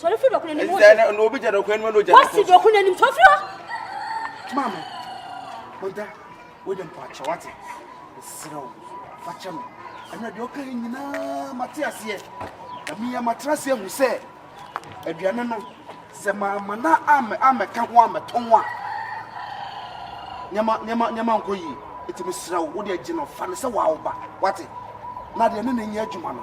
sɔre firi dɔko n'anim wose na obi gya dɔko anim na ogya wose dɔko n'anim sɔre firi hɔ maame ɔda wode mpo akyɛ wate ɛserɛ wo fakyɛ me ɛno deɛ ɔka yi nyinaa mate aseɛ na meyɛ matena ase ahu sɛ aduane no sɛ maama na amɛka ho amɛtɔ ho a nneɛma nneɛma nneɛma nkɔ yie ɛtumi serɛ wo wode agyina ɔfa no sɛ wawo ba wate na deɛ ne ne nyɛ adwuma no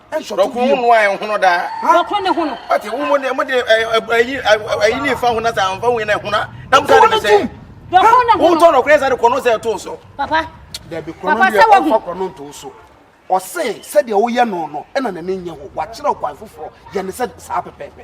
nsɔre kuro mu nua yɛn ho no daa. wɔkoro ne ho no. ɔte wo mu ne mo de ayi ayi ne nfa ho na sa nfa ho yɛn na ɛho na na mo sa de bɛsɛ. wɔkoro ne ho no. wotɔ nɔkoro yɛ sa de kɔnɔ sɛ ɛto so. papa dabi kɔnɔ deɛ ɔfa kɔnɔ nto so ɔse sɛdeɛ woyɛ no no ɛna n'ani nyɛ ho wakyerɛ ɔkwan foforɔ yɛ ne sɛ saa pɛpɛɛpɛ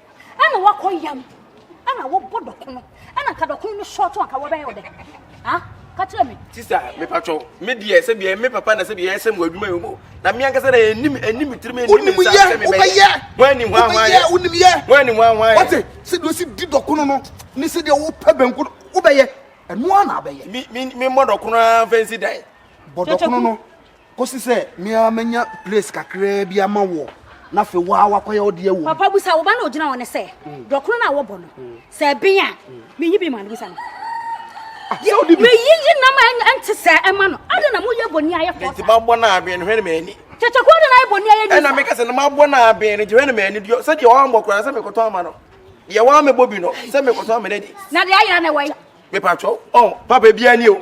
ɛna wakɔ yam ɛna wɔbɔ dɔko no ɛna nka dɔko no sɔɔto anka wɔbɛyɛ wo dɛ ha ka kyerɛ me sista mepatwɔ me deɛ sɛ biɛ me papa na sɛ biɛ ɛsɛ mu adwuma yi mu na me ankasa na ɛnim ɛnim tirim ɛnim ne nsa sɛ mebɛyɛ wɔani ho ahoa yɛ wɔani ho ahoa yɛ wɔte sɛ deɛ ɔsi di dɔko no no ne sɛ deɛ wopɛ bɛnko no wobɛyɛ ɛnoa na abɛyɛ me mmɔ dɔko no ara mfɛnsi dan bɔ dɔko no no Kosi sɛ me ara mɛnya place kakraa bi ama woɔ, na afei wo ara woakɔyɛ wo deɛ wom. Papa busa wo ba no a ɔgyina hɔ no sɛ, Dɔkono no a wɔbɔ no, sɛ ɛben a, menyi bi ma no? Busa no. Ah, sɛ wode bi. Meyiyi nam a ɛnte sɛ ɛma no. Adɛn na moyɛ bɔne ayɛ fɔ? Enti mabɔ no aben no, hwɛ ne m'ani. Kyɛkyɛ kɔ adɛn na ayɛ bɔne ayɛ ni. Ɛna meka sɛ na mabɔ no aben no, nti hwɛ ne m'ani. Sɛ deɛ wammɔ koraa sɛ mekɔtɔ ama no. Deɛ wammɛbɔ bi no, sɛ mekɔtɔ ama no adi. Na deɛ ayera na ɛwɔ yi. Mepatwɔ, ɔn, papa biara ni o.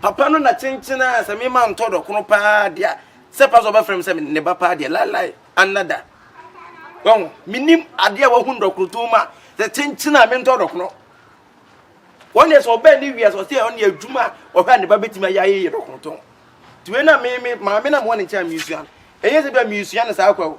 Papa no na kyenkyen a sɛ me ma ntɔ dɔ koro paa deɛ a sɛ pa sɛ ɔbɛfrɛ me sɛ ne ba paa deɛ laelae anada wɔn menim adeɛ a wahu dɔ koro tom a sɛ kyenkyen a me ntɔ dɔ koro wɔn deɛ sɛ ɔbɛn ne wia sɛ ɔsɛ ɔne adwuma a ɔhwɛ a ne ba bɛtumi ayɛ ayɛ yɛ dɔ koro tom tiwe na me me maame na mo ne nkyɛn a mesua no ɛyɛ sɛ bi a mesua no saa kwa o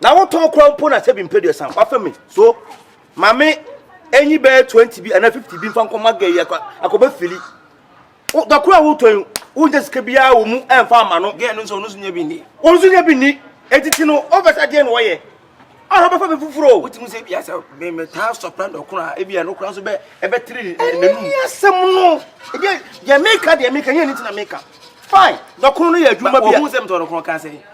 Na wo tɔn kora mpo na sɛbi mpɛ duasa wafa mi so mame enyi bɛyɛ twenty bi ana fifty bi nfa nkɔ ma gɛyi akɔ akɔbɛ fili wo dɔkoro a wotɔn wo nyɛ sika bi a wɔ mu ɛnfa ama no gɛɛ no nso ɔno so nyɛ bi ni ɔno so nyɛ bi ni etiti no ɔbɛsa deɛ na ɔyɛ ɔno bɛfa bi foforo o wotumi sɛ ebi asɛ mɛmɛ taa sɔpra dɔkoro a ebi ɛno kora nso bɛ ɛbɛ tiri n'anum ɛni asɛm no ebi deɛ meka deɛ meka nyɛ ne ti na meka fine dɔkoro no yɛ adwuma bi a ohun sɛ mtɔn dɔkoro kan sɛ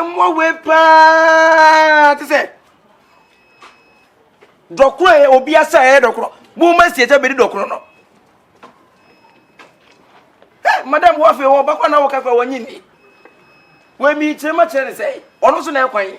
mmoawe paa te sɛ dɔkorɔ yɛ obi asa yɛ dɔkorɔ mo ma si ɛsɛ bɛdi dɔkorɔ no madam wo afei wɔ bakɔ na wɔka kora wɔnye nni wɔmi kyerɛ ma kyerɛ ne sɛ ɔno so na ɛkwan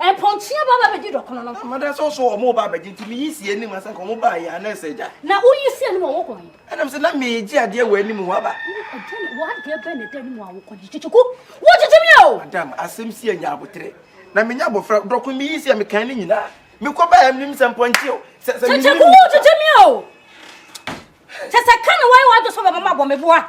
Mpɔnkye ba bɛgye dɔkono no. Mada sɛ ɔsɔ wɔn ba bɛgye nti meyi si anim ansa nka wɔn baa yɛ anaa sɛ agya. Na woyi si anim a wɔkɔ he? Ɛnam sɛ na megye adeɛ wɔ anim hɔ aba. W'adeɛ bɛn na ɛda anim a wokɔ gye kyekyeku? Wogyegye me o! Madam, asɛm si anya aboterɛ na menya abɔfra. Dɔkono meyi si a mekan ne nyinaa. Mekɔ baa yɛ menim sɛ mpɔnkye o. Sɛ sɛ menim. Kyekyeku wogyegye me o! Kyɛ sɛ ka na woayɛ w'adwe sɛ wobɛma mabɔ me boa.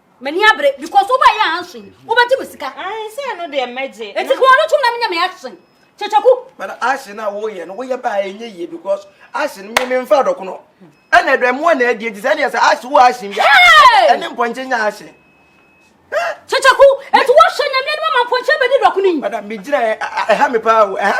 M'ani abere because wobɛ yɛ ansen wobɛgye me sika. Ansen ah, no deɛ mɛgye. Eti kò ɔno tum na menya me action. Kyekyeku. Bana action a woyɛ no woyɛ baa enye yie because action mi mi nfa dɔko no. Ɛna ɛdɔ ɛmoa na ɛdi eti sɛ ɛdeɛ sɛ action wo action bi. Ɛne mpɔnkye nya action. Kyekyeku eti wɔhwɛ nyame anim ama mpɔnkye bɛdi dɔko no yi. Bana mi gyina ɛha mi paa o ɛha.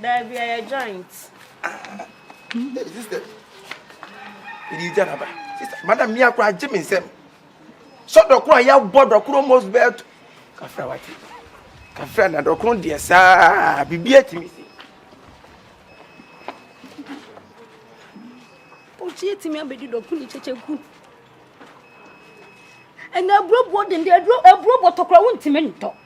Daabi, ɛyɛ joint. Hey, sister. Ɛdi gya naba. Sister, madam, mi akora agye me nsam. Sɛ dɔkoro a yɛabɔ dɔkoro mos bɛɛto. Kafra wate. Kafra na dɔkoro deɛ saa biribi atumi si. Ɔkyi atumi abɛdi dɔkoro ne kyɛkyɛ ku. Ɛna aburobuo dende, aburobuo tɔkora wontumi ntɔ.